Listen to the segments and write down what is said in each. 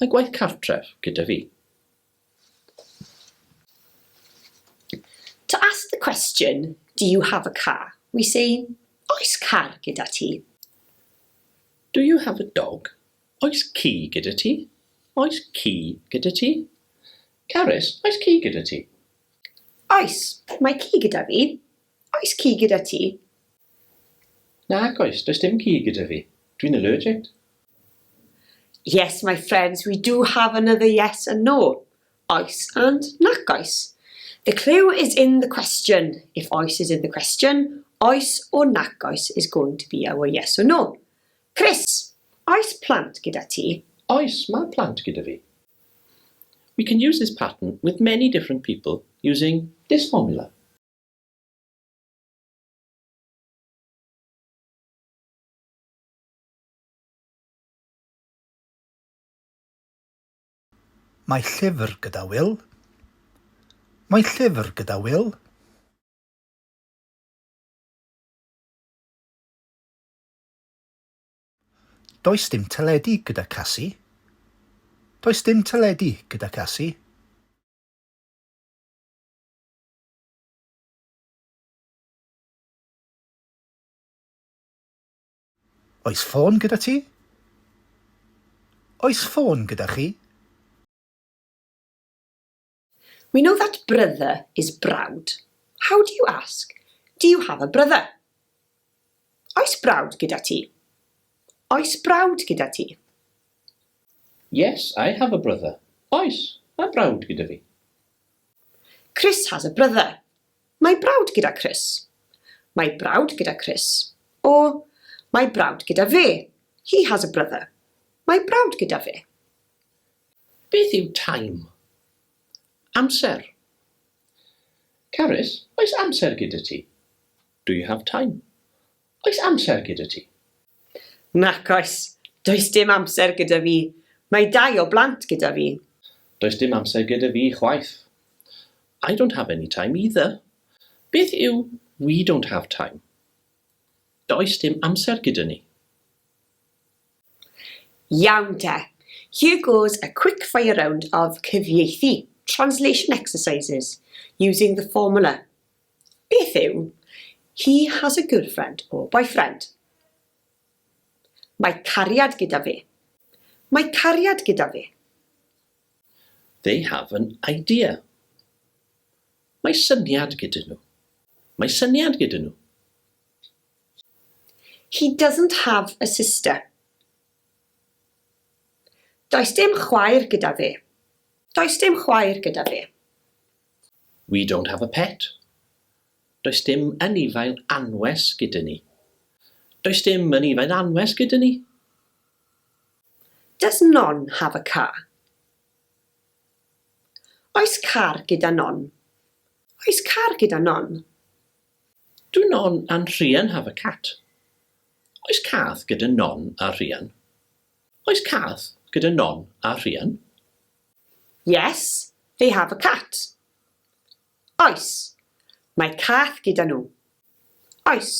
Mae gwaith cartref gyda fi. To ask the question, do you have a car? we say, Oes car gyda ti? Do you have a dog? Oes ci gyda ti? Oes ci gyda ti? Carys, oes ci gyda ti? Oes, mae ci gyda fi. Oes ci gyda ti? Nag oes, does dim ci gyda fi. Dwi'n allergict. Yes, my friends, we do have another yes and no. Oes and nac oes. The clue is in the question. If oes is in the question, oes or nac oes is going to be our yes or no. Chris, oes plant gyda ti? Oes, mae plant gyda fi. We can use this pattern with many different people using this formula. Mae llyfr gyda Wil. Mae llyfr gyda Wil. Does dim teledu gyda Casi. Does dim teledu gyda Casi. Oes ffôn gyda ti? Oes ffôn gyda chi? We know that brother is brawd. How do you ask, Do you have a brother? Oes brawd gyda ti? Oes brawd gyda ti? Yes, I have a brother. Oes, mae brawd gyda fi. Chris has a brother. Mae brawd gyda Chris. Mae brawd gyda Chris. O, Mae brawd gyda fe. He has a brother. Mae brawd gyda fe. Beth yw time? Amser. Carys, oes amser gyda ti? Do you have time? Oes amser gyda ti? Nac oes, does dim amser gyda fi. Mae dau o blant gyda fi. Does dim amser gyda fi chwaith. I don't have any time either. Beth yw we don't have time? Does dim amser gyda ni. Iawn te. Here goes a quick fire round of cyfieithu, translation exercises, using the formula. Beth yw He has a girlfriend or boyfriend? Mae cariad gyda fe. Mae cariad gyda fe. They have an idea. Mae syniad gyda nhw. Mae syniad gyda nhw. He doesn't have a sister. Does dim chwaer gyda fe. Does dim chwaer gyda fe. We don't have a pet. Does dim anifail anwes gyda ni. Does dim anifail anwes gyda ni. Does non have a car? Oes car gyda non? Oes car gyda non? Do non and Rhian have a cat? Oes cath gyda non a Rhian? Oes cath gyda non a Rhian? Yes, they have a cat. Oes, mae cath gyda nhw. Oes,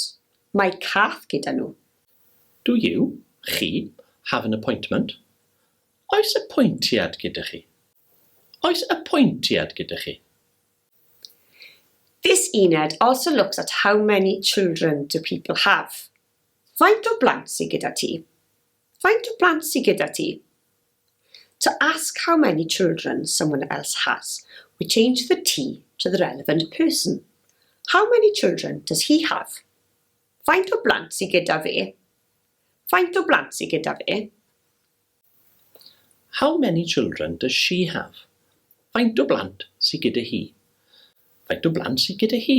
mae cath gyda nhw. Do you, chi, have an appointment? Oes apwyntiad gyda chi? Oes apwyntiad gyda chi? This uned also looks at how many children do people have. Faint o blant sy gyda ti? Faint o blant sy gyda ti? To ask how many children someone else has, we change the T to the relevant person. How many children does he have? Faint o blant sy gyda fe? Faint o blant sy gyda fe? How many children does she have? Faint o blant sy gyda hi? Faint o blant sy gyda hi?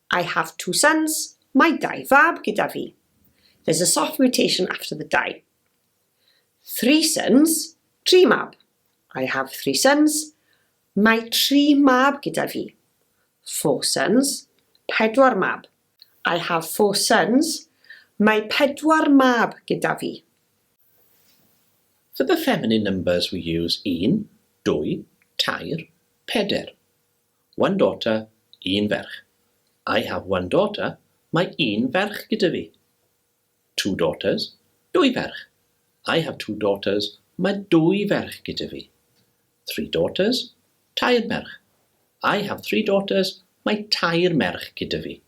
I have two sons, mae dau fab gyda fi. There's a soft mutation after the dau. Three sons, tri mab. I have three sons, mae tri mab gyda fi. Four sons, pedwar mab. I have four sons, mae pedwar mab gyda fi. For the feminine numbers we use un, dwy, tair, peder. One daughter, un ferch. I have one daughter, mae un ferch gyda fi. Two daughters, dwy ferch. I have two daughters, mae dwy ferch gyda fi. Three daughters, tair merch. I have three daughters, mae tair merch gyda fi.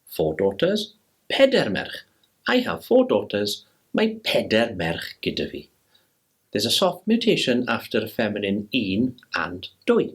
Four daughters, peder merch. I have four daughters, mae peder merch gyda fi. There's a soft mutation after a feminine un and dwy.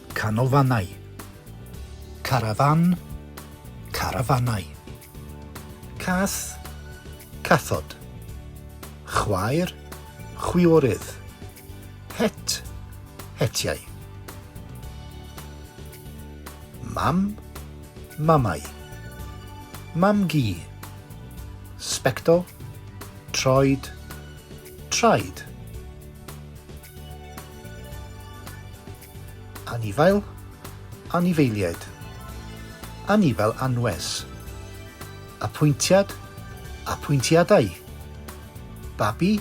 Canolfannau. Carafán, carafanau. Cath, cathod. Chwaer, chwiorydd. Het, hetiau. Mam, mamau. Mam-gu. Sbectol, troed, traed. Anifail, anifeiliaid. Anifail anwes. Apwyntiad, apwyntiadau. Babi,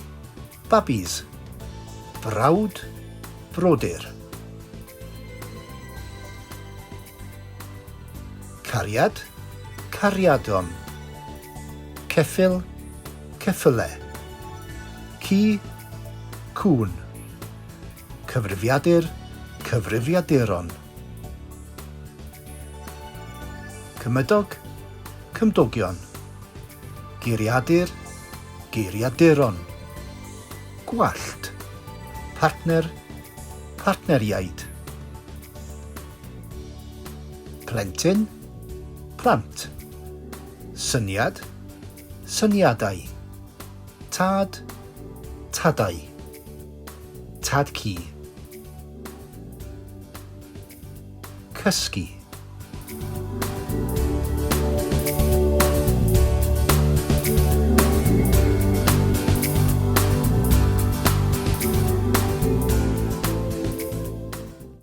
babis. Brawd, brodyr. Cariad, cariadon. Ceffyl, ceffyle. Ci, cŵn. Cyfrifiadur, cyfrifiaduron. Cymydog, cymdogion. Geiriadur, geiriaduron. Gwallt, partner, partneriaid. Plentyn, plant. Syniad, syniadau. Tad, tadau. Tad Ci. Cysgu.